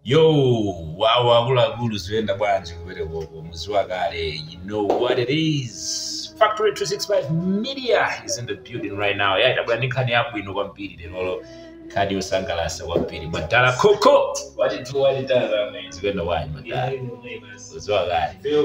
Yo, wawo akuluakulu ziyenda bwanji kumeneko muziwa kale you know what it is factory 265 media is in the building right now yeah tabwera ndi nkhani yabwino kwambiri lero nkhani yosangalatsa kwambiri madala koko watithu watitazamene zikuyenda bwanji madala uziwa kale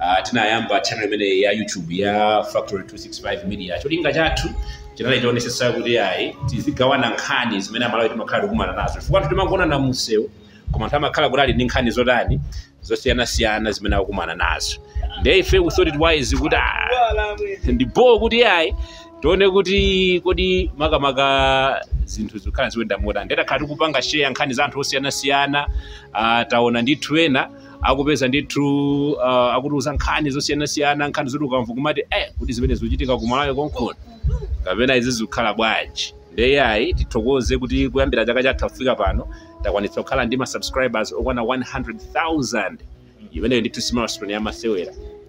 Uh, tinayamba channel imeneyi ya youtube ya factory 265 media cholinga chathu chinali tionesese kuti ayi tizigawana nkhani zimene amalawi timakhala tikumana nazo chifukwa anthu timaonana mumsewu koma anthu amakhala kuti ali ndi nkhani zotani zosiyanasiyana zimene akukumana nazo nde ife we thought it wise kuti ah, ndipo kuti ayi tione kuti kodi makamaka zinthu zikhala zikuyenda motani nde takhala tikupanga share nkhani za anthu osiyanasiyana ah, taona ndithu ena akupeza ndithu uh, akutiuza nkhani zosiyanasiyana nkhani zoti ukamva kumati eh, kuti zimene zikuchitika ku malawi konkhona kapena izi zikukhala bwanji ndiye ayi tithokoze kuti kuyambira chaka chatha kufika pano takwanitsa kukhala ndi ma subscribers okwana 100000 imeneyo ndithu si milestone yamasewera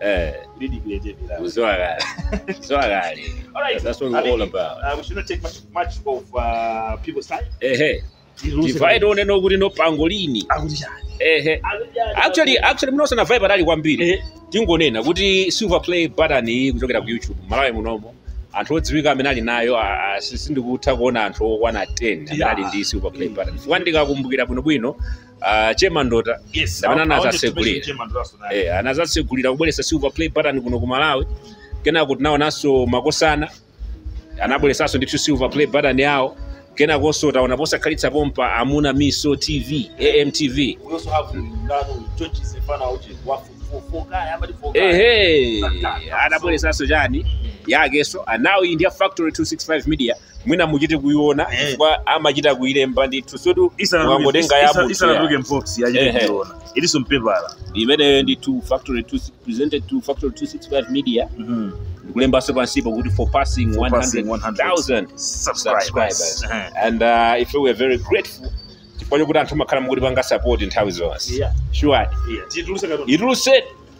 Eh, Really creativity. kuzowa kale. Kuzowa kale. Alright. That's what we're all about. Uh, we should not take much, much of uh, people's time. Ehe. Vibe imene kuti no pangolini. Akuti chani. Ehe. Actually, actually mnosa na vibe ali kwambiri. Eh. Tingonena kuti silver play button iyi kuchokera ku YouTube Malawi munomo. Anthu odziwika amene ali nayo a- a- si- sindikutha kuona anthu okwana 10 amene Yeah. ali ndi silver play button. Chifukwa ndikakumbukira bwinobwino uh, che mandota Yes. Ndi amene I- I wanted to anazasegulira. mention Che Mandota so that- eh, anazatsegulira kubweretsa silver play button kuno ku malawi kenako tinaonanso makosana anabweretsanso ndithu silver play button yawo kenakonso taona posakhalitsa pompa amuna miso tv amtv We also have Ndano, George Sefana, which is one for- for- for guy, somebody for guy. ehe anabweretsanso chani yakenso and now iyi ndi ya factory 265 media mwina muchite kuiona Eh. chifukwa amachita kuilemba ndithu zoti mwangotenga ya munthu ya. isanatuluke mu box achite Ehe. kuiona ilinso mpepala imeneyo ndi to factory two, presented to factory 265 media Mhm. ndikulembanso pansipo kuti for passing For passing 100,000 subscribers subscribers Ehe. and uh, ife we are very grateful chifukwa chokuti anthu amakhala mukutipanga support nthawi zonse Yeah. sure Yeah. Tituluse katoni. ituluse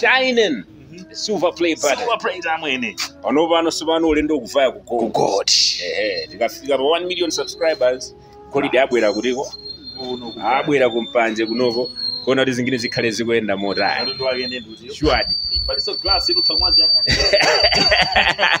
shining silver play button silver play tamwene pano pano sipano ulendo kuvaya ku ku gold gold ehe tikafika pa 1 million subscribers golide abwera kuti ko uno abwera kumpanje kunoko kuona kuti zimene zikhale zikuyenda motani katundu wake ndi ndutiyo sure palinso glass mukutha kumaziyang'anira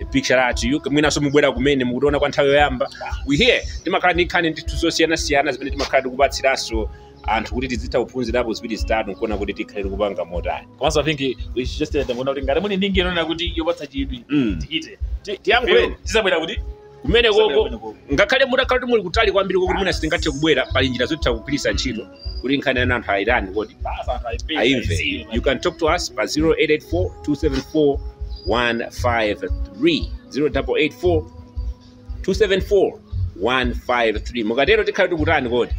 a big shout out to you mwinanso mubwera kumene mukutiona kwa nthawi yoyamba we here timakhala ndi nkhani ndithu zosiyanasiyana zimene timakhala tikupatsiranso anthu kuti tizitha kuphunzirapo ziwiri zitatu nkuona kuti tikhale tikupanga motani komanso i think we should just tell them kuti ngati muli ndi nkhani inayake yopatsa chidwi Mm. Ti- tiyankhuleni tizabwera kuti kumene Tizabwera koko kumene koko. ngakhale mutakhala kuti muli kutali kwambiri kokuti mwina sitingathe kubwera pali njira zotha kugwiritsa ntchito kuti nkhani yanu anthu ayitani kodi ayimve you can talk to us pa 0884 274 153 0884 274 153 mukatero tikhala tikutani kodi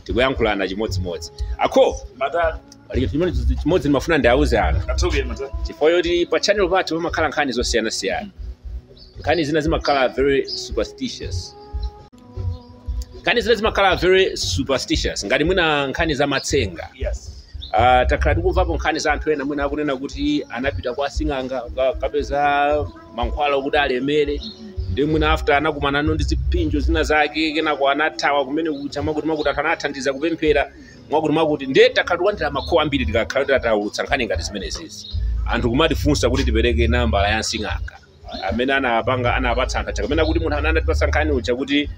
tikuyankhulana chimodzimodzi akho Mata, pali chimene chimodzi ndimafuna ndiauze anthu chifukwa choti pa channel pathu pamakhala nkhani zosiyanasiyana nkhani zina zimakhala very superstitious nkhani zina zimakhala very superstitious ngati mwina nkhani za matsenga yes Ah, takhala tikumvapo nkhani za anthu ena mwina akunena kuti anapita kwa sing'anga ka- kapeza mankhwala okuti alemere ndi mwina after anakumanano ndi zipinjo zina zake kenako anathawa kumene kuja mwakuti mwakuti anthu anathandiza kupemphera mwakuti mwakuti ndiye takhala tikulandira ma call ambiri tikakhala titaulutsa nkhani ngati zimenezi anthu kumatifunsa kuti tipereke nambala ya sing'anga amene anapanga anapatsa anthu aja kapena kuti munthu amene anatipatsa nkhani uja kuti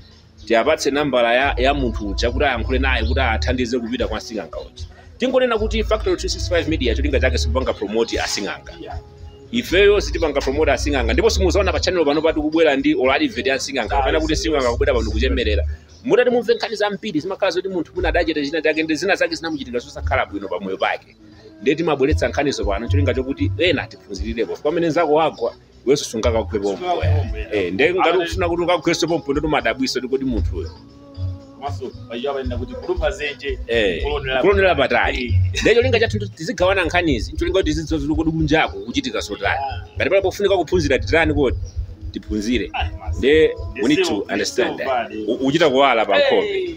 tiwapatse nambala ya, ya munthu uja kuti ayankhule naye kuti athandize kupita kwa sing'anga uja tingonena kuti factory 265 media cholinga chake sikupanga promote asing'anga ifeyo sitimapanga promote asing'anga ndipo simuzaona pa channel pano kuti kubwera ndi or advert ya asing'anga kapena kuti sing'anga kubwera pano kuchemerera mutati mumve nkhani zambiri zimakhala zoti munthu mwina adachita china chake ndi zina zake zinamuchitikira zosakhala bwino pa moyo wake ndiye timabweretsa nkhanizo pano cholinga chokuti ena tiphunzirirepo pamene nzako wagwa iwenso sungakagwe pompo eh ndiye ngati ukufuna kuti ukagwenso pompo nde timadabwa kuti kodi munthu uyo komanso pachichewa pathu kuti kulumpha dzenje eh kulonera kulonera patali ndiye cholinga chathu ndi tizigawana nkhanizi cholinga kuti tizidziwa zoti kodi kunjako kuchitika zotani ngati pali pofunika kuphunzira titani kodi tiphunzire ndiye we need to understand that U- uchita kuwala pa nkhope Hey,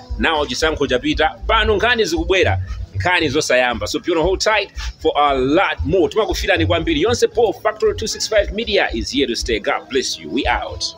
nawo chisankho chapita pano nkhani zikubwera nkhani zosayamba so be on hold tight for a lot more timakufilani kwambiri nonse pa factory 265 media is here to stay god bless you we out